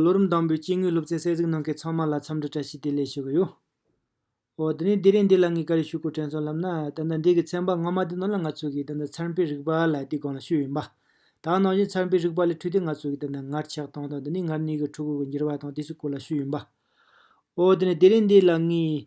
ལོ་རིམ་དང་པོའི་སྐྱེ་དངོས་སློབ་ཚན་གསལ་གཟིགས་གནང་མཁན་ཚང་མ་ལ་འཚམས་འདྲི་བཀྲ་ཤིས་བདེ་ལེགས་ཞུ་གི་ཡོད། དེ་ནས་འདི་རེས་འདི་ལ་ངས་ག་རེ་ཞུ་དགོས་དྲན་སོང་ལབ་ན། ད་ལྟ་འདི་གི་ཚན་པ་སྔ་མ་དེ་ནང་ལ་ང་ཚོ་གིས་ད་ལྟ་ཚན་པའི་རིག་པ་ལ་དེའི་སྒང་ལ་ཞུས་ཡོད། དག་ནང་བཞིན་ཚན་པའི་རིག་པ་ལས་འཕྲོས་ཏེ་ང་ཚོ་གིས་ད་ལྟ་ངར་ཆགས་སྟངས་དང་དེ་ནས་ངར་གནས་གི་ཕྲུ་གུ་གི་འགྱུར་བ་དང་དེ་ཚོའི་སྐོར་ལ་ཞུས་ཡོད། འོ་དེ་ནས་དེ་རེས་འདི་ལ་ངས།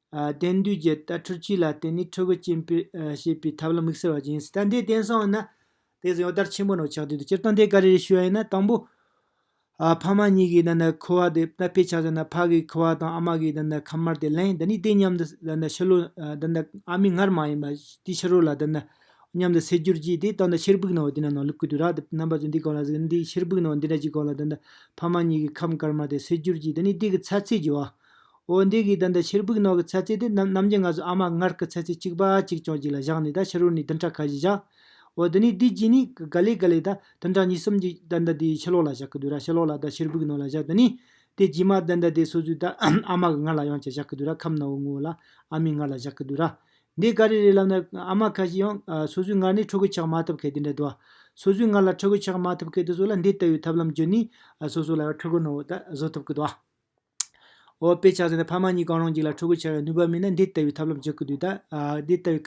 གཏན་སྡུད་རྒྱལ་དར་འཕྲུལ་ཆས་ལ་བརྟེན་ནས་ཕྲུ་གུ་སྐྱེ་འཕེལ་བྱེད་པའི་ཐབས་ལམ་དམིགས་བསལ་བ་ཅི་ཡིན་སྲིད་དམ་དེ་བརྟེན་སོང་ན། དེ་ཟིན་གཡོག་དར་ཆེན་པོ་ནང་ཆགས་དུས་དང་སྤྱིར་བཏང་དེ་ག་རེ་རེད་ཞུས་པ་ཡིན་ན་དང་པོ། ཕ་མ་གཉིས་ཀྱིས་ད་ནི་ཁུ་བ་དེ་ད་ཕས་ཆགས་ཟིན་ན་ཕ་གིས་ཁུ་བ་དང་ཨ་མ་གིས་ད་ནི་ཁ་དམར་དེ་ལེན་ད་ནི་དེ་མཉམ་དུ་ད་ནི་ཕྱི་ལོ་ད་ནི་ཨ་མའི་སྔར་མ་ཡིན་པ་དེའི་ཕྱི་རོལ་ལ་ད་ནི་མཉམ་དུ་སེལ་རྒྱུར་གྱིས་དེ་ལྟ་ན་ཕྱིར་ཕུག་ནང་དེ་ནི་ནང་ལུག་གི་དུས་ར་དེ་རྣམ་པ་ཚོས་འདི་གང་ལ་ཟེར་འདི་ཕྱིར་ཕུག་ནང་འདི་འདྲ་ཅིག་གང་ལ་ད་ནི་ཕ་མ་གཉིས་ཀྱིས་ཁམས་དཀར་དམར་དེ་སེལ་རྒྱུར་གྱིས་ད་ནི་དེ་གི་ཚ་ཚད་ཀྱི་བ། འོ་འདི་གའི་དོན་དུ་ཕྱིར་བུག་ནང་གི་ཚལ་རྩི་དེ་རྣམས་ནམ་གྱི་ང་ཟུག་ཨ་མ་མངལ་གྱི་ཚལ་རྩི་གཅིག་པ་གཅིག་ཅུང་ཅིག་ལ་བཞག་ནས་ད་ཕྱི་རོལ་ནས་བདུན་ཕྲག་ཁ་བཞི་བཞག། འོ་དེ་ནས་དུས་གཅིག་ནས་ག་ལེ་ག་ལེ་ད་བདུན་ཕྲག་གཉིས་གསུམ་གྱི་དོན་དུ་དེའི་ཕྱི་ལོགས་ལ་བཞག་གི་དུས་ར་ཕྱི་ལོགས་ལ་ད་ཕྱིར་བུག་ནང་ལ་བཞག་དེ་ནས་དེ་རྗེས་མ་དོན་དུ་དེ་སོ་སོའི་ད་ཨ་མ་གི་མངལ་ལ་ཡང་ཅིག་བཞག་གི་དུས་ར་ཁམས་ནང་བའི་ངོ་བོ་ལ་ཨ་མའི་མངལ་ལ་བཞག་གི་དུས་ར། འདི་ག་རེ་རེ་ལབ་ན་ཨ་མ་ཁ་ཤས་ཡང་སོ་སོའི་མངལ་ནས་ཕྲུ་གུ་ཆགས་མ་ཐུབ་གལ་ཏེ་འདྲེ་དུ། སོ་སོའི་མངལ་ལ་ཕྲུ་གུ་ཆགས་མ་ཐུབ་གལ་ཏེ་སོགས་ལ་འདི་ལྟ་བུའི་ཐབས་ལམ་བརྒྱུད་ནས་སོ་སོ་ལ་ཡང་ཕྲུ་གུ་ནང་བ་ད་བཟོ་ཐུབ་གི་དུ། འོ། དཔེ་ཆ་ཟེར་ན་ཕ་མ་གཉིས་གང་རུང་གཅིག་ལ་ཕྲུ་གུ་བྱ་བའི་ནུས་པ་མེད་ན་འདི་ལྟ་བུའི་ཐབས་ལམ་སྤྱོད་ཀྱི་འདུག་ད། འདི་ལྟ་བུའི་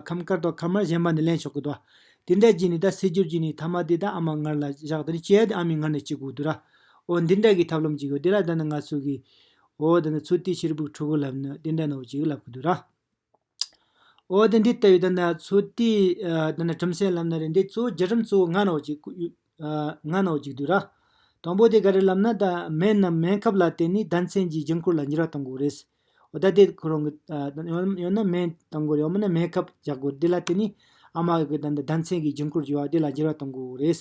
ཁམས་དཀར་དང་ཁམས་དམར་གཞན་པ་ནས་ལེན་ཆོག་གི་འདུག། དེ་འདྲ་གྱིས་ནི་ད་སྲིད་འགྱུར་གྱིས་ནི་ཐ་མ་དེ་ད་ཨ་མ་ངར་ལ་བཞག་དེ་ནི་སྐྱེ་ཡ་དེ་ཨ་མའི་ངར་ནས་སྐྱེ་དགོས་འདུག་ར། འོ་འདི་འདྲ་གི་ཐབས་ལམ་གཅིག་ཡོད་དེ་ལ་ད་ནི་ང་ཚོ་གིས། འོ་ད་ནི་ཚུལ་དེའི་ཕྱིར་བུ་ཕྲུ་གུ་ལབ་ནི་དེ་འདྲ་ནའོ་ཅིག་ལབ་ཀྱི་འདུག་ར། འོ་དེ་འདི་ལྟ་བུའི་དེ་ན་ཚུལ་དེའི་དེ་ན་ཁྲིམས་སེལ་ལམ་ན་རེ་འདི་གཙོ་བོ་རྒྱུ་ཁྲིམས་གཙོ་བོ་ལྔ་ནོག་ཅིག་ལྔ་ནོག་ཅིག་དུས་ར། དང་པོ་དེ་ག་རེ་ལབ་ན་ད་སྨན་རྣམས་སྨན་ཁབ་ལ་བརྟེན་ནས་ཟླ་མཚན་གྱི་འགྱིང་འཁོར་ལ་འགྱུར་བ་གཏང་དགོས་རེད། འོ་ད་དེ་ཁོ་རང་གི་ཡང་ན་སྨན་གཏང་དགོས་རེད་ཡང་མིན་ན་སྨན་ཁབ་རྒྱག་དགོས་རེད་དེ་ལ་བརྟེན་ནས་ཨ་མ་གི་དེ་ན་ཟླ་མཚན་གྱི་འགྱིང་འཁོར་འགྱུར་བ་དེ་ལ་འགྱུར་བ་གཏང་དགོས་རེད།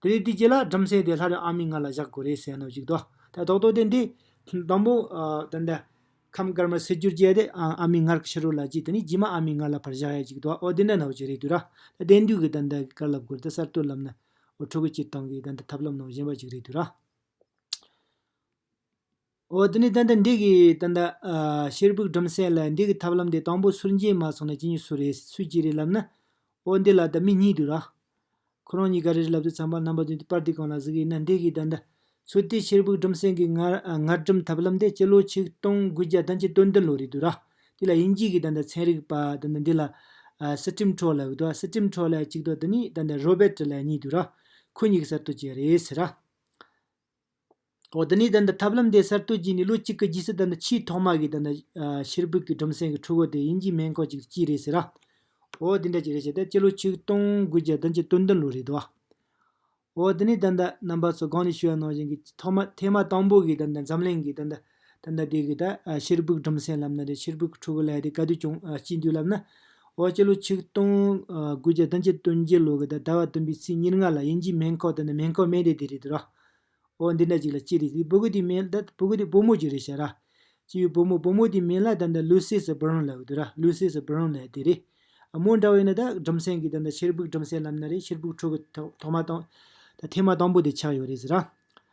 དེ་རེད་དེ་ཅི་ལ་བྲམ་ཟེ་དེ་ལྷ་རེད་ཨ་མི་ང་ལ་བཞག་དགོས་རེད་ཟེར་ནོ་ཅིག་དོ། ད་དོག་དོག་དེ་འདི། དང་པོ། དེ་འདི། ཁམས་དཀར་མ་སེར་སྐྱུར་བཅས་དེ་ཨ་མི་ངར་ཕྱི་རོལ་ལ་བཅིག་དེ་ནི་རྗེས་མ་ཨ་མི་ང་ལ་ཕར་བཞག་ཡ་ཅིག་དོ་ཨོ་དེ་འདྲ་ན་འོ་ཅི་རེད་དུས་ར། ད་དེ་འདུས་ཀྱི་ད་འདི་གི་དཀར་ལབ་དགོས་རེད་ད་གསར་གཏོད་ལབ་ན། འོ་ཕྲུ་གུ་སྤྱིར་བཏང་གི་ད་འདི་ཐབས་ལམ་ནང་བཞིན་པ་ཅིག་རེད་དུས་ར། འོ་དེ་ནས་ཏན་ཏན་འགྲིག་གི་ཏན་ཏན། ཤེར་བུག་སྦྲུམ་སྲེག་ལ་འགྲིག་གི་ཐབས་ལམ་དེ་དང་པོ་སུར་འགྱིང་མ་སོང་ན་ཅི་ཉི་སུ་རེད་སུས་ཅི་རེད་ལབ་ན། འོ་འདི་ལ་ད་མི་གཉིས་འདུག་ར། ཁོ་རང་གཉིས་ཀ་རེ་རེ་ལབ་དུས་ཚངས་པ་རྣམ་པ་བདུན་དེ་པར་དེ་གང་ལ་གཟིགས་ཡིན་ན་འགྲིག་གི་ཏན་ཏན། ཚུལ་དེས་ཤེར་བུག་སྦྲུམ་སྲེག་གི་ངར་སྦྲུམ་ཐབས་ལམ་དེ་སྤྱི་ལོ་ཆིག་སྟོང་དགུ་བརྒྱ་དང་གཅིག་སྟོང་བདུན་ལོ་རེད་འདུག་ར། དེ་ལ་དབྱིན་ཇིའི་གི་ཏན་ཏན་ཚན་རིག་པ་ཏན་ཏན་འདི་ལ། Sitrim Troll འུ་ཐུག Sitrim Troll ལ་གཅིག་འདུག་དེ་ནི་ཏན་ཏན Robert ལ་གཉིས་འདུག་ར། ཁོ་གཉིས་ཀྱི་གསར་གཏོད་ཅིག་རེད་ཟེར་ར། འོ་དེ་ནས་ཐབས་ལམ་དེ་གསར་གཏོད་བགྱིས་ནས་ལོ་གཅིག་གི་རྗེས་སུ་ཕྱིའི་ཐོག་མ་གིས་ཕྱིར་ཕུད་ཀྱི་སྦྲུམ་སྲིང་གི་ཕྲུ་གུ་དེ་དབྱིན་ཇིའི་སྨན་ཁང་ཅིག་ཏུ་བསྐྱིས་རེད་ཟེར། འོ་དེ་འདྲ་ཅིག་རེད་བྱས་ཏེ་སྤྱི་ལོ་ཆིག་སྟོང་དགུ་བརྒྱ་དང་གྱ་བདུན་བདུན་ལོ་རེད་དོ། འོ་དེ་ནས་རྣམ་པ་ཚོ་སྒང་ནས་ཤུལ་བ་ནང་བཞིན་གྱི་ཐོག་མ་ཐེངས་མ་དང་པོ་གི་འཛམ་གླིང་གི། ད་ལྟ་དེ་གའི་ཕྱིར་སྦུག་གྲུམ་སེང་ལབ་ན་དེ་ཕྱིར་སྦུག་ཁྲོ་བོ་ལས་དེ་ག་དུས་ཀྱང་སྐྱིད་འདུག་ལབ་ན། འོ་སྤྱི་ལོ་ཆིག་སྟོང་དགུ་བརྒྱ་དང་ཆིག་སྟོང་བརྒྱད་ལོ་གི་ཟླ་བ་བདུན་པའི་ཚེས་ཉེར་ལྔ་ལ་དབྱིན་ཇིའི་མེན་ཁོག་ཏུ་ནི་མེན་ཁོག་སྨད་སྡེ་དེ་རེད་དུ་ར། འོ་འདི་འདྲ་ཅིག་ལ་ཅི་རེད་དེ་བུ་གུ་དེའི་མེན་ད་བུ་གུ་དེའི་བུ་མོ་ཅིག་རེད་ཤག་ར། ཅི་ཡོད་བུ་མོ་བུ་མོ་དེའི་མེན་ལ་ད་ནི་ལུས་སེ་སི་བུརང་ལབ་དུ་ར་ལུས་སེ་སི་བུརང་ལས་དེ་རེད། མོ་འདྲ་བས་ན་ད་གྲུམ་སེང་གིས་ད་ཕྱིར་སྦུག་གྲུམ་སེང་ལབ་ན་དེ་ཕྱིར་སྦུག་ཁྲོ་བོ་ཐོག་མ་དང། ཐེངས་མ་དང་པོ་དེ་ཆགས་ཡོད་རེད་ཟེར་ར།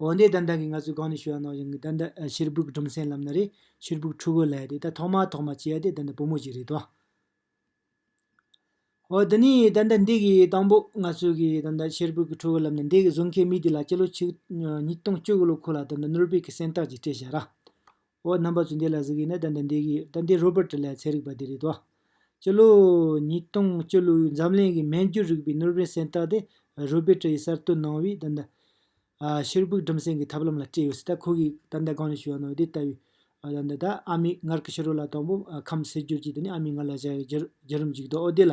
འོ་འདི་ད་ལྟ་གི་ང་ཚོའི་སྒང་ནས་ཞུ་བ་ནང་བཞིན་ད་ལྟ་ཕྱིར་སྦུག་སྦྲུམ་སེང་ལབ་ན་རེད་ཕྱིར་སྦུག་ཕྲུ་གུ་ལས་དེ་ད་ཐོག་མ་ཐོག་མ་སྐྱེས་དེ་ད་ལྟ་བུ་མོ་ཞིག་རེད་དོ། འོ་འདི་ནི་ད་ལྟ་འདི་གི་དང་པོ་ང་ཚོས་གི་ད་ལྟ་ཕྱིར་སྦུག་གི་ཕྲུ་གུ་ལབ་ནས་འདི་གི་བཟོ་མཁན་མི་དེ་ལ་སྤྱི་ལོ་ཆིག་ཉིས་སྟོང་བཅུ་དགུ་ལོ་ཁོ་ལ་ད་ལྟ་ནོར་བེལ་གྱི་གཟེངས་རྟགས་ཅིག་སྤྲད་བཞག་ར། འོ་རྣམ་པ་ཚུལ་འདི་ལ་གཟིགས་ཡིན་ན་ད་འདི་འདི་གིས་ད་འདི་རོ་པར་ཏི་ལའི་ཚན་རིག་པ་འདི་རེད་དོ། སྤྱི་ལོ་ཉིས་སྟོང་བཅུ་ལོའི་འཛམ་གླིང་གི་སྨན་རྒྱུད་རིག་པའི་ནོར་བྷེལ་གཟེངས་རྟགས་དེ་རོ་པེ་ཏི་ཡིས་གསར་གཏོད་གནང་བའི་ད་འདི། ཕྱིར་ཕུག་གྲིམ་སེང་གི་ཐབས་ལམ་ལ་སྤྲད་ཡོད་སྲིད་ད་ཁོ་གིས་ད་འདི་གང་ནས་ཞུས་ཡང་ནོ་འདི་ལྟ་བུའི། ད་འདི་ད་ཨ་མའི་མངལ་གྱི་ཕྱི་རོལ་ལ་དང་པོ་ཁམས་སེལ་རྒྱུར་གྱིས་དེ་ནས་ཨ་མའི་མངལ་ལ་བཞག་ཡོད་རྒྱུར་རྒྱུ་རིམ་ཅིག་འདུག་འོ་དེ་ལ་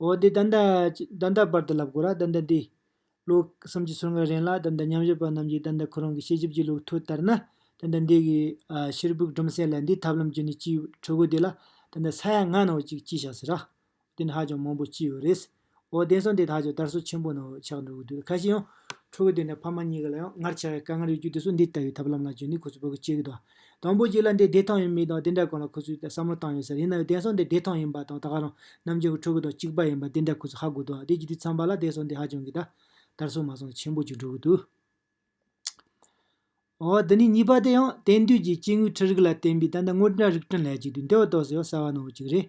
འོ་དེ་ད་ལྟ་ད་ལྟ་བར་དུ་ལབ་དགོས་ར་ད་ལྟ་འདི། ལོ་གསུམ་གྱི་ཚུར་སྔ་རན་ལ་ད་ལྟ་མཉམ་ཞུགས་པ་རྣམས་ཀྱིས་ད་ལྟ་ཁོ་རང་གི་ཤེས་རྒྱུད་ཀྱི་ལུགས་ཐོ་ལྟར་ན། ད་ལྟ་འདི་གི་ཕྱིར་བུག་སྒྲོམ་གསལ་ལ་འདི་ཐབས་ལམ་བརྒྱུད་ནས་སྐྱི་ཁྲོ་གོ་དེ་ལ་ད་ལྟ་ས་ཡ་ལྔ་ནང་ཅིག་སྐྱི་ཞག་ཟེར་ར། དེ་ནི་ཧ་ཅང་མང་པོ་སྐྱི་ཡོད་རེད། འོ་དེང་སང་དེ་ད་ཅང་དར་སོ་ཆེན་པོ་ནང་ཆགས་འགྲོ་གི་འདུག་ཁ་ཤས་ཡང། ཁྲོ་གོ་དེ་འདྲ་ཕ་མ་གཉིས་ཀ་ལ་ཡང་སྔར་ཆགས་ཡ་དཀའ་ངལ་ཡོད་རྒྱུ་དེ་ཚོ་འདི་ལྟ་བུའི་ཐབས་ལམ་ལ་བརྒྱུད་ནས་ཁོ་ཚོ་བོད་ཀྱི་སྐྱི་གི་དོ། དང་པོ་གཅིག་ལ་འདི་བདེ་ཐང་ཡིན་མིན་དང་དེ་འདྲ་གང་ལ་ཁོ་ཚོས་བསམ་བློ་བཏང་ཡོད་ས་རེད་ཡིན་ནའང་དེང་སང་འདི་བདེ་ཐང་ཡིན་པ་དང་ད་ག་རང་རྣམ་རྒྱལ་གྱི་ཕྲུ་གུ་དང་གཅིག་པ་ཡིན་པ་དེ་འདྲ་ཁོ་ཚོས་ཧ་གོ་ཐུབ་ཨ་དེ་གྱི་དུས་མཚམས་པ་ལ་དེང་སང་འདི་ཧ་ཅང་གི་ད་ལྟར་སོང་མ་སོང་ཆེན་པོ་གཅིག་འགྲོ་གི་འདུག། འོ་འདི་ནས་གཉིས་པ་དེ་ཡང་དེང་དུས་ཀྱི་སྐྱེ་དངོས་ཁྲི་རིགས་ལ་བརྟེན་པའི་ད་ལྟ་དངོས་བྲག་རིགས་ཕྲན་ལྷད་ཅིག་དུས་འདི་བ་ཏོག་ཟེར་བ་གསར་བ་ནང་བ་ཅིག་རེད།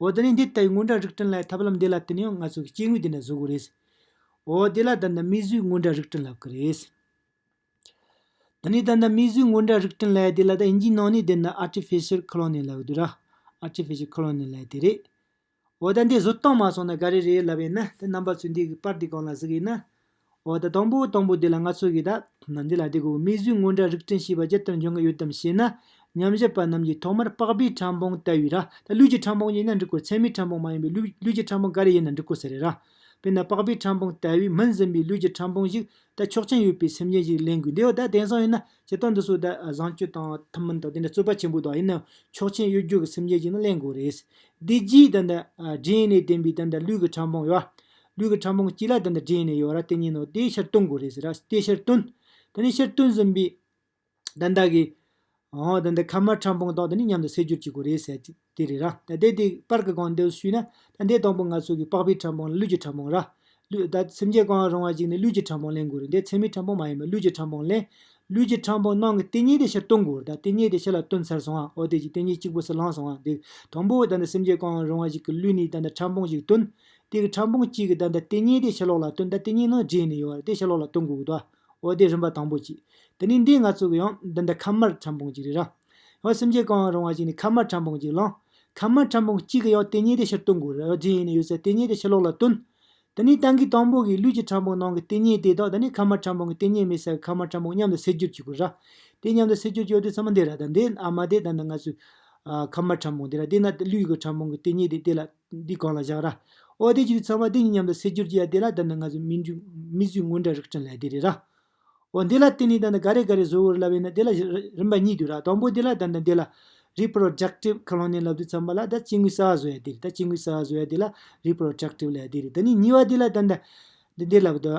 འོ་དེ་ནས་འདི་ལྟ་བུའི་སྔོན་འགྲོ་རིགས་བསྐྲུན་ལ་ཐབས་ལམ་འདི་ལ་བརྟེན་ནས་ང་ཚོ་གི་སྐྱེ་དངོས་འདི་འདྲ་བཟོ་དགོས་རེད། འོ་དེ་ལ་ད་ནི་མིས་བཟོས་སྔོན་འགྲོ་རིགས་བསྐྲུན་ལབ་ཀི་རེད། དེ་ནས་ད་ནི་མིས་བཟོས་སྔོན་འགྲོ་རིགས་བསྐྲུན་ལ་དེ་ལ་ད་ཨིན་ཇིའི་ནང་ནས་དེ་ནི Artificial Cloning ལབ་དགོས་རེད། Artificial Cloning ལ་དེ་རེད། འོ་ད་འདི་བཟོ་སྟངས་མ་སོང་ན་ག་རེ་རེད་ལབ་ཡིན་ན་དེ་རྣམ་པ་ཚོས་འདི་གི་པར་འདི་གང་ལ་གཟིགས་ཡིན་ན། འོ་ད་དང་པོའི་དང་པོ་དེ་ལ་ང་ཚོ་གིས་ད། འདི་ལ་དེ་གོ་མིག་ཟུང་སྔོན་འདྲ་རིག་སྐྲན་ཞེས་པ་ཇི་ལྟར་འབྱུང་གི་ཡོད་དམ་ཞེ་ན། ཉམས་བཞག་པ་རྣམས་ཀྱིས་ཐོག་མར་པགས་པའི་ཕྲ་འབུང་ལྟ་བུའི་ར་ད་ལུས་ཀྱི་ཕྲ་འབུང་ཡིན་ན་འགྲིག་གོ་མཚན་མའི་ཕྲ་འབུང་མ་ཡིན་པའི་ལུས་ཀྱི་ཕྲ་འབུང་ག་རེ་ཡིན་ན་འགྲིག་གོ་ཟེར་རེད་ར། དཔེར་ན་པགས་པའི་ཕྲ་འབུང་ལྟ་བུའི་མི་འཛིན་པའི་ལུས་ཀྱི་ཕྲ་འབུང་ཞིག་ད་ཆོག་མཆན་ཡོད་པའི་སེམས་ཅན་ཞིག་གླེང་དགོས་འདི་འོ་ད་དེང་སང་ཡིན་ན་བྱེད་སྟངས་འདི་ཚོ་ད་བཟང་སྤྱོད་དང་ཐུན་མིན་དང་དེ་འདྲ་རྩོད་པ་ཆེན་པོ་དག་ཡིན་ན་ཆོག་མཆན་ཡོད་རྒྱུ་གི་སེམས་ཅན་ཞིག་ན་གླེང་དགོས་རེད། དེ་རྗེས་ད། རྗེན་ནེ་བསྟན་པའི་ད་ལུས་ཀྱི་ཕྲ་འབུང་ཡོད། ལུས་ཀྱི་ཕྲ་མོ་གཅིག་ལ་དེ་འདྲ་འདྲེས་ནས་ཡོད་ར་དེ་གཉིས་ནོ་དེའི་ཕྱིར་སྟོང་དགོས་རེད་ཟེར་ར་དེའི་ཕྱིར་སྟོན། དེ་ནས་ཕྱིར་སྟོན་ཟིན་པའི་དན་དག་གིས། ཧོ་དེ་འདི་ཁ་མ་ཁྲམ་སྤུངས་དག་དེ་ནི་མཉམ་དུ་བསྲེ་སྦྱོར་བྱེད་དགོས་རེད་ཟེར་ཏེ་དེ་རེད་ར་ད་དེ་དེ་པར་གི་གང་འདོད་ཞུས་ན། ད་འདི་དང་པོ་ང་ཚོ་གི་པགས་པའི་ཕྲ་མོང་ལ་ལུས་ཀྱི་ཕྲ་མོང་ར། ལུས་ད་སེམས་ཅན་གང་རུང་བ་ཞིག་ནི་ལུས་ཀྱི་ཕྲ་མོང་ལེན་དགོས་རེད་འདི་ཚད་མའི་ཕྲ་མོང་མ་ཡིན་པར་ལུས་ཀྱི་ཕྲ་མོང་ལེན། ལུས་ཀྱི་ཕྲ་མོང་ནང་གི་དེ་གཉིས་དེ་ཕྱིར་སྟོན་དགོས་ར་ད་དེ་གཉིས་དེ་ཕྱི་ལ་སྟོན་ཚར་སོང་ཨ་ཨོ་དེ་གཉིས་དེ་གཉིས་གཅིག་པོ་སུ་ལངས་སོང་ཨ་འདི་དང་པོ་ད་འདི་སེམས་ཅན་གང་རུང་བ་ཞིག་གི་ལུས་ནི་ད་འདི་ཕྲ་མོང་ཞིག་སྟོན། དེ་གི་ཕྲ་འབུངས་གཅིག་གི་བརྡ་འདི་ལྟེ་གཉིས་དེ་ཕྱི་ལོགས་ལ་སྟོན་བརྡ་ལྟེ་གཉིས་ནང་རྗེས་ནས་ཡོང་བར་དེ་ཕྱི་ལོགས་ལ་སྟོན་དགོས་གི་ཏོ། འོ་དེ་རིམ་པ་དང་པོ་གཅིག། དེ་ནས་འདི་ང་ཚོ་གི་ཡང་བརྡ་འདི་ཁ་མར་ཕྲ་འབུངས་གཅིག་རེད་རང། ཡང་སེམས་ཅན་གང་ཡང་རུང་བ་ཞིག་ནས་ཁ་མར་ཕྲ་འབུངས་གཅིག་བླངས། ཁ་མར་ཕྲ་འབུངས་གཅིག་གི་ཡང་ལྟེ་གཉིས་དེ་ཕྱིར་སྟོན་དགོས་རོ་རྗེས་ཡིན་ནས་ཡོད་ཚད་ལྟེ་གཉིས་དེ་ཕྱི་ལོགས་ལ་སྟོན། དེ་ནས་དང་གི་དང་པོ་གི་ལུས་ཀྱི་ཕྲ་འབུངས་ནང་གི་ལྟེ་གཉིས་དེ་དང་དེ་ནས་ཁ་མར་ཕྲ་འབུངས་གི་ལྟེ་གཉིས་མེད་ས་གི་ཁ་མར་ཕྲ་འབུངས་མཉམ་དུ་བསྲེ་སྒྱུར་བྱེད་དགོས་ར། དེ་མཉམ་དུ་བསྲེ་སྒྱུར་བྱེད་དུས་ཚང་མ་འདི་ར་དང་འདི་ཨ་མ་དེ་བརྡ་འདི་ང་ཚོའི། ཁ་མར་ཕྲ་འབུངས་དེ་ར་དེ་ན་ལུས་ཀྱི་ཕྲ་འབུངས་གི་ལྟེ་གཉིས་དེ་དེ་ལ་འདི་གང་ལ་བཞག་ར། ཨོ་དེ་ཅི་རིགས་ཚང་མ་འདི་གཉིས་མཉམ་དུ་བསྲེས་སྒྱུར་གྱི་ཡ་དེ་ལ་ད་ནི་ང་ཚོས་མི་འཇུག་མི་བཟོས་དངོས་འདྲ་རིགས་བསྐྲུན་ལ་དེ་རེད་ར། ཨོ་འདི་ལ་བརྟེན་ནས་ད་ནི་ག་རེ་ག་རེ་བཟོ་འོས་ར་བས་ན་དེ་ལ་རིམ་པ་གཉིས་འདུས་ར་དང་པོ་འདི་ལ་ད་ནི་འདི་ལ། Reproductive Colonial ལབ་དུས་ཚང་མ་ལ་ད་སྐྱེ་དངོས་གསར་བ་བཟོ་ཡ་དེ་རེད་ད་སྐྱེ་དངོས་གསར་བ་བཟོ་ཡ་དེ་ལ Reproductive ལ་ཡ་དེ་རེད་ད་ནི་གཉིས་པ་འདི་ལ་ད་ནི་འདི་ལབ་དུས།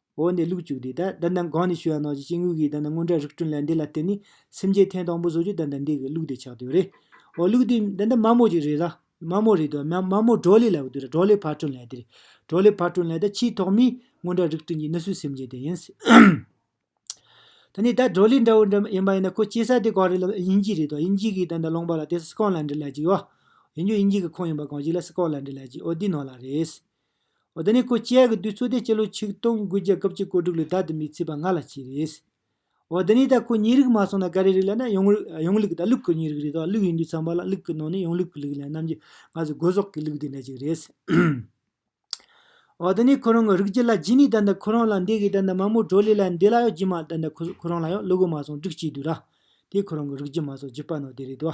འོག་ནས་ལུགས་བཅུག་སྟེ། བདག་འདི་གང་ནས་ཤི་བ་ནང་བཞིན་སྐྱེ་དངོས་ཀྱི་བདག་འདི་སྔོན་བྲག་རིགས་སྐྲུན་ལས་འདི་ལ་བརྟེན་ནས་སེམས་ཅན་ཐེངས་དང་པོ་བཟོ་རྒྱུ་བདག་འདི་འདི་གི་ལུགས་དེ་ཆགས་དོན་རེད། འོ་ལུགས་དེ་འདི་འདི་མ་མོ་ཅིག་རེད་ལ། མ་མོ་རེད་དོ། མ་མ་མོ་གྲོ་ལེ་ལ་བུ་དེ་རེད་གྲོ་ལེ་བར་སྐྲུན་ལས་དེ་རེད། གྲོ་ལེ་བར་སྐྲུན་ལས་དེ་ཆེས་ཐོག་མའི་སྔོན་བྲག་རིགས་སྐྲུན་གྱི་ནི་སུའི་སེམས་ཅན་དེ་ཡིན། ད་ནི་ད་གྲོ་ལེ་འདྲ་བོ་འདྲ་ཡིན་པ་ཡིན་ན་ཁོ་སྐྱེ་ས་དེ་གང་རེད་ལབ་དབྱིན་ཇི་རེད་དོ་དབྱིན་ཇི་གི་བདག་འདི་སློང་པ་ལ་དེ་སི་ཀོ་ལན་དྲི་ལ་ཅིག་ཡོད། ཡིན་རྒྱུ་དབྱིན་ཇི་གི་ཁོངས་ཡིན་པ་གང་ཞིག་ལ་སི་ཀོ་ལན་དྲི་ལ་ཅིག་འོ་དེའི་ནང་ལ་རེད། ཨོ་ད་ནི་ཁོ་བཅས་ཀྱི་དུས་ཚོད་དེ་སྤྱི་ལོ་ཆིག་སྟོང་དགུ་བརྒྱ་སྐབས་ཀྱི་བཀོད་སྒྲིག་ལས་ད་དུ་མི་ཚེས་པ་ལྔ་ལ་གཅིག་རེད། ཨོ་ད་ནི་ད་ཁོ་གཉིས་རིགས་མ་སོང་ན་ག་རེ་རིགས་ལ་ན་ཡོངས་རིགས་ཡོངས་ལུགས་ད་ལུགས་ཀྱི་གཉིས་རིགས་རེད་དོ་ལུགས་ཡིན་དུས་ཚང་པ་ལ་ལུགས་ཀྱི་ནང་ནས་ཡོངས་ལུགས་ཀྱི་ལུགས་ལས་རྣམ་རྒྱལ་སྔ་སོར་སྒོ་ཟོག་གི་ལུགས་དེ་འདྲ་ཅིག་རེད། ཨོ་ད་ནི་ཁོ་རང་གི་རིགས་ཀྱི་ལ་རྒྱུས་ནི་ད་ནི་ཁོ་རང་ལ་འདས་གི་ད་ནི་མ་མོ་གྲོ་ལི་ལ་འདས་ལ་ཡང་རྒྱུས་མ་ད་ནི་ཁོ་རང་ལ་ཡང་ལུ་གུ་མ་སོང་དྲུག་གཅིག་དུས་ར། དེ་ཁོ་རང་གི་རིགས་རྒྱུས་མ་སོགས་རྒྱུས་པ་ནོར་དེ་རེད་དོ།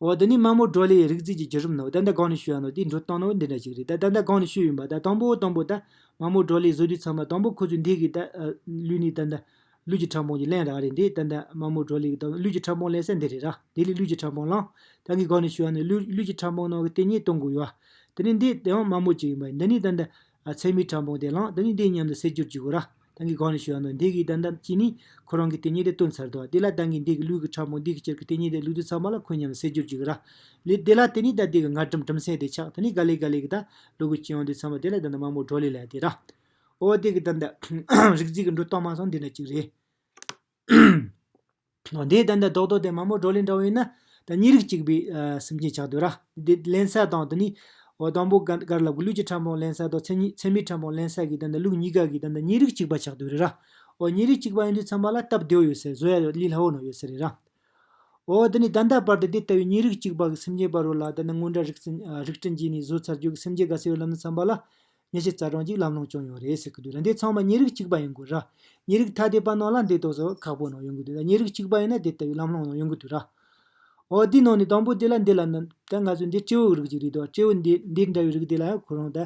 འོ་འདི་ནི་དམངས་མོ་ཀྲོ་ལེའི་རིག་རྩིས་ཀྱི་བརྒྱུད་རིམ་ནོ་ད་ལྟ་གང་ནས་ཤོད་ཡ་ནོ་དེའི་འབྲུ་སྟངས་ནོ་འདི་འདྲ་ཞིག་རེད་ད་ད་ལྟ་གང་ནས་ཤོད་ཡོང་བ་ད་དང་པོ་དང་པོ་ད་དམངས་མོ་ཀྲོ་ལེའི་བཟོ་རྒྱུད་ཚང་མ་དང་པོ་ཁོ་ཚོས་འདི་གི་ད་ལུས་ནི་ད་ལྟ་ལུས་ཀྱི་ཕྲ་ཕུང་གི་བརླན་ར་རེད་འདི་ད་ལྟ་དམངས་མོ་ཀྲོ་ལེ་གི་ད་ལུས་ཀྱི་ཕྲ་ཕུང་བརླན་ས་འདི་རེད་ར་དེ་ལས་ལུས་ཀྱི་ཕྲ་ཕུང་བརླན་ད་གི་གང་ནས་ཤོད་ཡ་ནོ་ལུས་ཀྱི་ཕྲ་ཕུང་ནང་གི་དེ་ཉིད་སྟོང་དགོས་ཡོད་ར་དེ་ནི་འདི་དེའང་དམངས་མོ་གཅིག་ཡིན་པ་འདི་ནི་ད་ལྟ་ཚད་མའི་ཕྲ་འབུངས་དེ་བླངས་དེ་ནི་འདི་སྙམ་དུ་སེལ་རྒྱུར་འཇུག་གོ། ར་ཏང་གིས་གང་ལས་བྱུང་བ་ནི་འདི་གའི་བདག་འདམ་གྱིས་ནི་ཁོ་རང་གི་དེ་ཉིད་དེ་བཏོན་ཚར་དོ། དེ་ལ་ཏང་གིས་འདི་གའི་ལུས་ཀྱི་ཕྲ་འབུངས་འདི་གའི་སྤྱིར་གྱི་དེ་ཉིད་དེ་ལུས་དུ་ཚང་བ་ལ་ཁོ་སྙམ་དུ་སེལ་རྒྱུར་འཇུག་གོ། ར་ལས། དེ་ལ་དེ་ནི་ད་འདི་གའི་ངར་གྲིམ་གྲིམ་སེ་དེ་ཆགས་དེ་ནི་ག་ལེ་ག་ལེ་གི་ད་ལུས་ཀྱི་སྤྱི་ཡང་དེ་ཚང་བ་དེ་ལ་ད་འདམ་དམའ་མོ་གྲོ་ལེ་ལ་དེ། ར་འོ་འདི་གའི་ད་འདམ། རིག་རྩལ་གྱི་འགྲོ་སྟངས་མ་སོང་འདི་འདྲ་ཅིག་རེད། དེའི་ལྡན་དང་བཟློག་བཟློག་སྟེ་མ་མོ་བགྲོ་གླེང་འདྲ་བོ་ཡིན་ན། ད་གཉིས་རིགས་གཅིག་པའི་སེམས་ཅན་ཆགས་འདོད་ར། དེ་བརླན་ས་དང་དེ་ནི། འོ་དང་པོ་གར་ལ་དགུ་ལུས་ཀྱི་ཕྲ་མོ་བརླན་ས་དང་མཚན་ཉིད་ཚད་མའི་ཕྲ་མོ་བརླན་ས་ཀྱི་ལྡན་དང་ལུགས་གཉིས་ཀ་གི་ལྡན་དང་གཉིས་རིགས་གཅིག་པ་ཆགས་འདོད་རེད་ར། འོ་གཉིས་རིགས་གཅིག་པ་ཡིན་དུས་ཚང་མ་ལ་སྟབས་བདེ་བོ་ཡོད་སའི་བཟོ་ཡ་ལི་སླ་བོ་ནང་ཡོད་ས་རེད་ར། འོ་དེ་ནི་ད་ལྟ་བར་དུ་དེ་ལྟ་བུའི་གཉིས་རིགས་གཅིག་པ་གི་སེམས་ཅན་པ་རོ་ལ་ལྡན་དང་སྔོན་འགྲ་རིགས་ཅན་གྱིས་ནི་བཟོ་ཚར་རྒྱུ་གི་སེམས་ཅན་ག་ས་ཡོད་ལབ་ན་ཚང་མ་ལ་གཉིས་ཆེ་རྩ་གྲངས་ཀྱིས་ལམ་ལྷོང་བྱུང་ཡོད་རེད་ཟེར་གྱི་འདུག་རེད་འདི་ཚང་མ་མྱི་རིགས་གཅིག་པ་ཡིན་དགོས་ར། མྱི་རིགས་ཐ་དད་པ་ནང་ལ་འདི་ལྟོས་ཟོ་ཁག་པོ་ནང་ཡོང་གི་འདུག་ད་མྱི་རིགས་གཅིག་པ་ཡིན་ན་དེ་ལྟ་བུའི་ལམ་ལྷོང་ནང་ཡོང་གི་འདུག་ར། འོ་དེའི་ནང་ནས་དང་པོ་དེ་ལ་འདི་ལ་ནི་ད་ང་ཚོའི་འདི་སྤྲེའུའི་རིགས་ཅིག་རེད་དོ་སྤྲེའུ་འདི་འདི་འདྲ་བའི་རིགས་དེ་ལ་ཡང་ཁོ་རང་ད།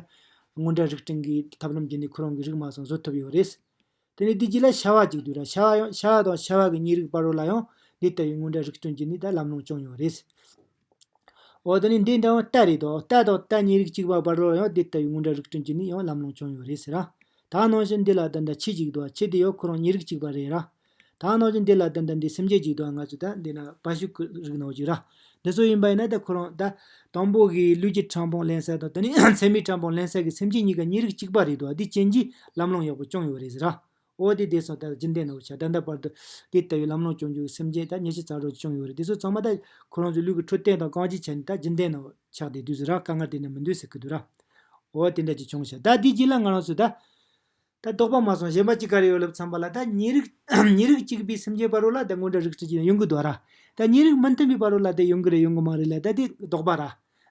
སྔོན་དྲ་རིགས་སྤྲིངས་གི་ཐབས་ལམ་བརྒྱུད་ནས་ཁོ་རང་གི་རིགས་མ་ཚང་བཟོ་ཐུབ་ཡོད་རེད། དེ་ནི་བདུད་རྩི་ལ་ཤ་བ་གཅིག་བསྡུས་ལ་ཤ་བ་ཡང་ཤ་བ་དང་ཤ་བ་གི་ཉིས་རིགས་པར་རོ་ལ་ཡང་འདི་ལྟ་བུའི་དངོས་འདྲ་རིགས་སྐྱོན་གྱིས་ནི་ད་ལམ་ལོང་བྱུང་ཡང་རེད། འོ་དེ་ནི་འདི་འདྲ་བ་རྟ་རེད་དོ་རྟ་དང་རྟ་ཉིས་རིགས་གཅིག་པར་བར་རོ་ལ་ཡང་འདི་ལྟ་བུའི་དངོས་འདྲ་རིགས་སྐྱོན་གྱིས་ནི་ཡང་ལམ་ལོང་བྱུང་ཡང་རེད་ཟེར། ད་ནང་བཞིན་འདི་ལ་ད་ལྟ་ཁྱི་གཅིག་འདུག་ཁྱི་དེ་ཡང་ཁོ་རང་ཉིས་རིགས་གཅིག་པ་རེད། ད་ནང་བཞིན་འདི་ལ་ད་ལྟ་འདི་སེམས་ཅན་གཅིག་འདུག་ང་ཚོ་ད་འདི་ན་བ་ཤུ་ཀུ་རིགས་ནང་བཞིན་ར་འདི་ཚོ་ཡིན་པ་ཡིན་ན་ད་ཁོ་རང་ད། དང་པོ་གི་ལུས་ཀྱི་ཕྲ་ཕུང་ལེན་སའི་དང་དེ་ནི་མཚན་མའི་ཕྲ་ཕུང་ལེན་སའི་གི་སེམས་ཅན་གཉིས་ཀ་གཉིས་རིགས་གཅིག་པ་རེད་འདུག་འདི་ཅན་གྱི་ལམ་ལྷོང་ཡག་པོ་བྱུང་ཡོད་རེད་ཟེར། འོ་དེ་དེ་སོང་ད་རྒྱུན་ལྡན་ནོ་བྱ་ད་ད་བར་དུ། དེ་ལྟ་བུའི་ལམ་ལྷོང་བྱུང་རྒྱུ་གི་སེམས་ཅན་ད་ཉེས་ཆད་ཚ་དྲོད་བྱུང་ཡོད་རེད་དེ་ཚོ་ཚང་མ་ད། ཁོ་རང་ཚོའི་ལུས་ཀྱི་འཕྲོད་བསྟེན་དང་གང་ཅི་བྱས་ནས་ད་རྒྱུན་ལྡན་ནོ་ཆགས་བསྡད་དུས་ཟེར་ར་དཀའ་ངལ་དེ་ནི་མི་འདུག་ཟེར་གི་འདུག་ར། འོ་དེ་འདྲ་ཅིག་བྱུང་ཞེས་ད་དེ་རྗེས་ལ་ང་རང་ཚོས་ད། ད་རྟོགས་པ་མ་སོང་གཞན་པ་ཅི་ག་རེ་ཡོད་ལབ་ཚང་པ་ལ་ད་ཉིད་རིགས། ཉིད་རིགས་གཅིག་པའི་སེམས་ཅན་པ་རོ་ལ་ད་སྔོན་འདྲ་རིགས་ཁྲི་ཅི་ན་ཡོང་གི་འདུག་ར། ད་ཉིད་རིགས་མི་མཐུན་པའི་པ་རོ་ལ་དེ་ཡོང་གི་རེད་ཡོང་གི་མ་རེད་ལ་ད་དེ་རྟོགས་པ་ར།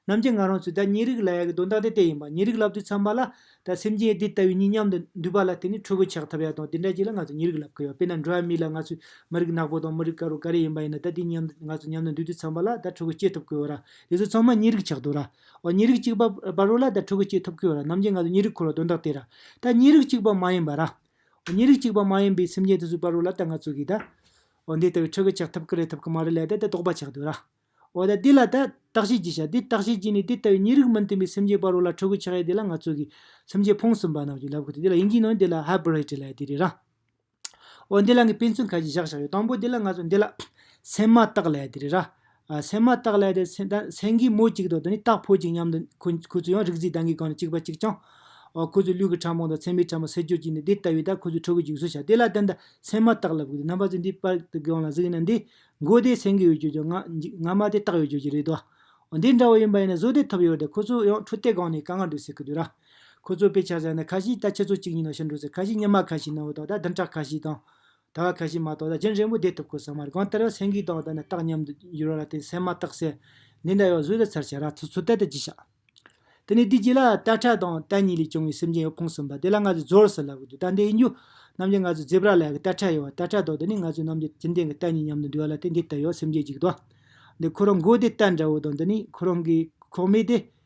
ནམ་རྒྱུན་ང་རང་ཚོས་ད་ཉིད་རིགས་ལ་ཡག་གི་དོན་དག་དེ་དེ་ཡིན་པ་ཉིད་རིགས་ལབ་དུས་ཚང་པ་ལ། ད་སེམས་ཅན་དེ་ལྟ་བུའི་གཉིས་མཉམ་དུ་འདུས་པ་ལ་དེ་ནི་ཕྲུ་གུ་ཆགས་ཐབས་ཡག་དང་དེ་འདྲ་ཅིག་ལ་ང་ཚོས་ཉིད་རིགས་ལབ་གི་ཡོད་དཔེར་ན་འགྲོ་བ་མི་ལ་ང་ཚོས་མི་རིགས་ནག་པོ་དང་མི་རིགས་དཀར་བོ་ག་རེ་ཡིན་པ་ཡིན་ན་ད་དེ་གཉིས་མཉམ་དུ་ང་ཚོ་མཉམ་དུ་འདུས་དུས་ཚང་པ་ལ་ད་ཕྲུ་གུ་སྐྱེ་ཐུབ་གི་ཡོད་ར། དེ་ཚོ་ཚང་མ་ཉིད་རིགས་ཆགས་འདུག་ར། འོ་གཉིས་རིགས་གཅིག་པ་པ་རོ་ལ་དང་ཕྲུ་གུ་སྐྱེས་ཐུབ་ཀྱི་ཡོད་ར་རྣམ་རྒྱལ་ང་ཚོ་གཉིས་རིགས་འཁོར་བ་དོན་དག་དེ་ར་ད་གཉིས་རིགས་གཅིག་པ་མ་ཡིན་པ་ར་འོ་གཉིས་རིགས་གཅིག་པ་མ་ཡིན་པའི་སེམས་ཅན་དེ་ཚོས་པ་རོ་ལ་དང་ང་ཚོ་གིས་ད་འོ་འདི་ལྟ་བུའི་ཕྲུ་གུ་ཆགས་ཐུབ་ཀྱི་རེད་ཐུབ་ཀྱི་མ་རེད་ལ་ད་དེ་དོགས་པ་ཆགས་དུས་ར་འོ་ད་དེ་ལ་ད་བརྟག་དཔྱད་གྱིས་ཤག་དེ་བརྟག་དཔྱད་གྱིས་ནས་དེ་ལྟ་བུའི་གཉིས་རིགས་མི་མཐུན་པའི་སེམས་ཅན་པ་རོ་ལ་ཕྲུ་གུ་ཆགས་ཡས་དེ་ལ་ང་ཚོ་གིས་སེམས་ཅན་ཕུང་གསུམ་པ་རྣམས་ཀྱིས་ལབ་ཀྱི་དེ་ལ་ཡིན་གྱི་ནོ་འདི་ལ Hybrid ལ་ཡས་དེ་རེད་ར། འོ་འདི་ལ་ངས་དཔེ་མཚོན་ཁ་ཅིག་བཞག་བཞག་ཡོད་དང་པོ་དེ་ལ་ང་ཚོ་འདི་ལ། སེམས་མ་བཏགས་ལས་དེ་རེད་ར། སེམས་མ་བཏགས་ལས་དེ་སེང་གེའི་མོ་གཅིག་དང་དེ་ནི་སྟག་ཕོ་གཅིག་མཉམ་དུ་ཁོ་ཁོ་ཚོ་ཡང་རིག་འཛིན་དང་གི་སྒང་ནས་གཅིག་པ་གཅིག་རྐྱང། ཁོ་ཚོས་ལུས་ཀྱི་ཕྲ་མོང་དང་མཚན་མའི་ཕྲ་མོ་སེལ་འགྱུར་གྱིས་ནི་དེ་ལྟ་བུའི་ད་ཁོ་ཚོའི་ཁྲོ་བོའི་འཇིགས་གསོ་བྱ་དེ་ལ་དེ་འདྲ་སེམས་མ་བཏགས་ལབ་དགོས་ཏེ་རྣམ་པ་ཚོས་འདིའི་པར་དེ་གང་ལ་གཟིགས་ཡིན་ན་འདི། མགོ་དེ་སེང་གེ་ཡོད་ཀྱི་ཀྱང་ང་མ་དེ་སྟག་ཡོད་ཀྱི་ཀྱི་རེད་དོ། འོ་འདི་འདྲ་བོ་ཡིན་པ་ཡིན་ན་བཟོ་དེ་ཐུབ་ཡོད་དེ་ཁོ་ཚོ་ཡང་ཁྲོ་དེ་སྒང་ནས་ག་ང་འགྲོ་ཟེར་གི་འདུག་ར། ཁོ་ཚོས་དཔེ་ཆ་བཞག་ནས་ཁ་ཤིས་ད་ཁྱེད་ཚོ་གཅིག་ཡིན་ནོ་ཞེས་འབྲོས་ཚེ་ཁ་ཤིས་སྙེ་མ་ཁ་ཤིས་ནང་བོ་དང་ད་བདུན་ཕྲག་ཁ་ཤིས་དང། ད་བ་ཁ་ཤིས་མ་གཏོགས་ད་གཞན་རེ་མོ་བསྡད་ཐུབ་ཁོ་ཟ་མ་རེད་གང་ལྟར་ཡང་སེང་གེའི་དང་བ་ད་ནས་རྟགས་ཉམས་དུ་འགྱུར་བ་ལ་བརྟེན་སེམས་མ་བརྟག་སའི་ལས་འདྲ་ཡོད་བཟོས་ཟེར་ཚར་བྱས་ར་ཚོ་ཚོད་ལྟ་དེ་གྱིས་ཤག། དེ་ནས་དུས་གཅིག་ལ་རྟ་ཁྲ་དང་རྟ་གཉིས་ལས་བྱུང་བའི་སེམས་ཅན་ཡོད་ཕུང་གསུམ་པ་དེ་ལ་ང་ཚོས་ཟོར་ཟེར་ལབ་གི་འདུག་ད་འདི་ཡིན་རྒྱུ། རྣམ་རྒྱལ་ང་ཚོས་རྫི་བར་ལག་གི་རྟ་ཁྲ་ཡོད་བ་རྟ་ཁྲ་དང་འདི་ནི་ང་ཚོས་རྣམ་རྒྱལ་གྱེན་ལྡན་གྱི་རྟ་གཉིས་མཉམ་དུ་འདྲེས་བ་ལ་བརྟེན་འདི་ལྟར་ཡོད་སེམས་ཅན་གཅིག་དང། འདི་ཁོ་རང་མགོ་དེ་རྟ་འདྲ་བོ་དང་འདི་ནི་ཁོ་རང་གི་ཁོག་མེད་དེ།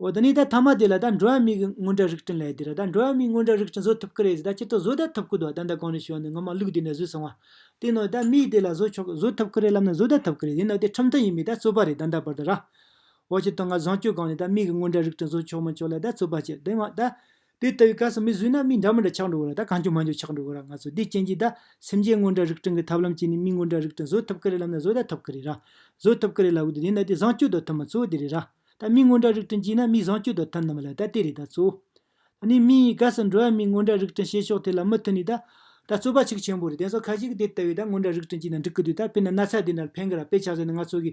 འོ་ད་ནི་ད་ཐ་མ་དེ་ལ་ད་འགྲོ་བ་མིའི་དངོས་འབྲེལ་རིགས་བསྐྲུན་ལས་དེ་རུ་ད་འགྲོ་བ་མིའི་དངོས་འབྲེལ་རིགས་བསྐྲུན་བཟོ་ཐུབ་ཀི་རེད་ཟེར་ད་སྤྱིར་བཏང་བཟོ་ད་ཐུབ་ཀི་འདུག་ད་ད་གང་ནས་བྱུང་བ་ནི་ངོ་མ་ལུགས་དེ་ནས་བཟོས་སོང་བ། དེ་ནོ་ད་མིའི་དེ་ལ་བཟོ་ཆོག་བཟོ་ཐུབ་ཀི་རེད་ལབ་ན་བཟོ་ད་ཐུབ་ཀི་རེད་ཡིན་ནོ་དེ་ཁྲིམས་མཐུན་ཡིན་མིན་ད་རྩོད་པ་རེད་ད་འདའ་བར་དུ་ར། འོ་སྤྱིར་བཏང་ང་བཟང་སྤྱོད་གང་ནས་ད་མིའི་དངོས་འབྲེལ་རིགས་བསྐྲུན་བཟོ་ཆོག་མི་ཆོག་ལ་ད་རྩོད་པ་བྱེད་དེ་མ་ད། དེ་ལྟ་བུའི་སྐབས་སུ་མི་བཟོད་ན་མི་འདྲ་མི་འདྲ་ཆགས་འགྲོ་གི་ར་ད་གང་འགྱུར་མ་འགྱུར་ཆགས་འགྲོ་གི་ར་ང་ཚོ་དེ་ཅན་གྱི་ད་སེམས་ཅན་དངོས་འདྲ་རིགས་སྤྲིང་གི་ཐབས་ལམ་གྱིས་ནི་མི་དངོས་འདྲ་རིགས་སྤྲིང་བཟོད་ཐུབ་ཀི་རེད་ལབ་ན་བཟོད་ད་ཐུབ་ཀི་རེད་ར། བཟོད་ཐུབ་ཀི་རེད་ལབ་གི་འདུག་དེ་འདྲ་དེ་བཟང་སྤྱོད་དོ་ཐུབ་མ་གཙོ་བོ་དེ་རེད་ར། ད་མི་དངོས་འདྲ་རིགས་སྤྲིང་གྱིས་ན་མི་བཟང་སྤྱོད་དོ་ཐུབ་ནམ་མ་ལ་ད་དེ་རེད་ད་གཙོ་བོ། ད་ནི་མི་ཡི་སྐབས་སུ་འགྲོ་བ་མིའི་དངོས་འདྲ་རིགས་སྤྲིང་བྱེད་ཕྱོགས་དེ་ལ་མུ་མཐུད་ནས་ད། ད་གཙོ་པ་ཆིག་ཆེན་པོ་རེད་དེ་ཚོ་ཁ་ཤས་ཀྱིས་དེ་ལྟ་བུའི་ད་དངོས་འདྲ་རིགས་སྤྲིང་གྱིས་ན་འགྲིག་གི་འདུག་ད་དཔེར་ན་ན་ཚ་དེ་འདྲ་ལ་ཕན་གི་ར་དཔེ་ཆགས་ཟེར་ནས་ང་ཚོ་གི་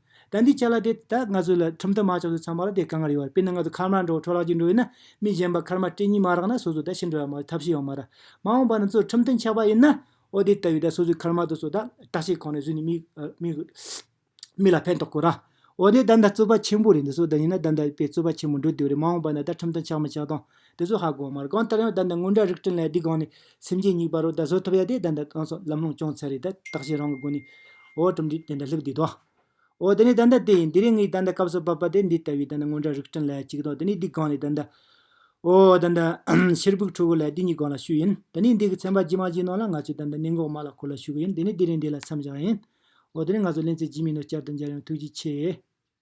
ད་འདི་ཆ་ལ་དེ་ད་ང་ཚོས་ལ་ཁྲིམས་ཐོ་མ་ཆགས་ཚུལ་ཚང་མ་ལ་དེ་ག་ང་རེད་བར་དཔེར་ན་ང་ཚོ་འཁར་མར་འགྲོ་བ་འཕྲོ་བརླག་ཅིག་འགྲོ་ཡོད་ན་མི་གཞན་པ་འཁར་མར་སྤྲད་གཉིས་མ་རག་ན་སོ་སོ་ད་ཤི་འགྲོ་ཡ་མ་རེད་ཐབས་ཤེས་ཡོང་མ་ར། མ་འོངས་པ་ན་ཚོས་ཁྲིམས་ཐོ་འཆག་པ་ཡིན་ན་ཨོ་དེ་ལྟ་བུའི་ད་སོ་སོའི་འཁར་མ་དུ་སོ་ད་བཀྲག་ཤེས་ཁོ་ནས་བཟོས་ནས་མི་མི་ལ་ཕན་ཐོག་དགོས་ར། ཨོ་དེ་ད་འདའ་རྩོད་པ་ཆེན་པོ་རེད་འདི་སོ་ད་ཡིན་ན་ད་འདའ་དཔེ་རྩོད་པ་ཆེན་པོ་འགྲོ་དེ་བ་རེད་མ་འོངས་པ་ན་ད་ཁྲིམས་ཐོ་འཆག་མི་འཆག་དང། དེ་ཚོ་ཧ་གོ་མར་གང་ལྟར་ཡང་ད་ལྟ་སྔོན་འདྲ་རིགས་བསྐྲུན་ལ་སྡིག་དགོངས་ནས་སེམས་ཅན་གཉིས་པ་རུ་ད་བཟོ་ཐུབ་ཡ་དེ་ད་ནི་གང་སོག་ལམ་ལྷོང་བྱུང་ཚད་རེད་ད་བརྟག་བྱའི་རང་གི་སྒོ་ནས། འོ་གྲུབ་འབྲས་དེ་འདྲ་ལྷུག་བསྡུས་དོ། འོ་དེ་ནི་ད་ལྟ་དེ་ཡིན་དེ་རིང་ངས་ད་ལྟ་སྐབས་སུ་བབ་པ་དེ་འདི་ལྟ་བུའི་ད་ནི་སྔོན་འདྲ་རིགས་བསྐྲུན་ལ་གཅིག་དང་དེ་ནི་སྡིག་དགོངས་ནས་ད་ནི། འོ་ད་ནི། ཕྱིར་ཕུག་ཁྲོ་བོ་ལ་དེ་གཉིས་གང་ལ་ཞུགས་ཡིན་ད་ནི་འདི་གི་ཚན་པ་ཇི་མང་ཇི་སྣང་ལ་ང་ཚོས་ད་ནི་གནད་འགོག་མ་ལ་ཁོ་ལ་ཞུགས་གི་ཡིན་དེ་ནི་དེ་རིང་འདི་ལ་མཚམས་བཞག་ཡིན། འོ་དེ་ནི་ང་ཚོ་གླེང་ཚེ་ཇི་མི་སྣོད་བསྐྱར་དུ་མཇལ་ཡོང་ཐུགས་རྗེ་ཆེ།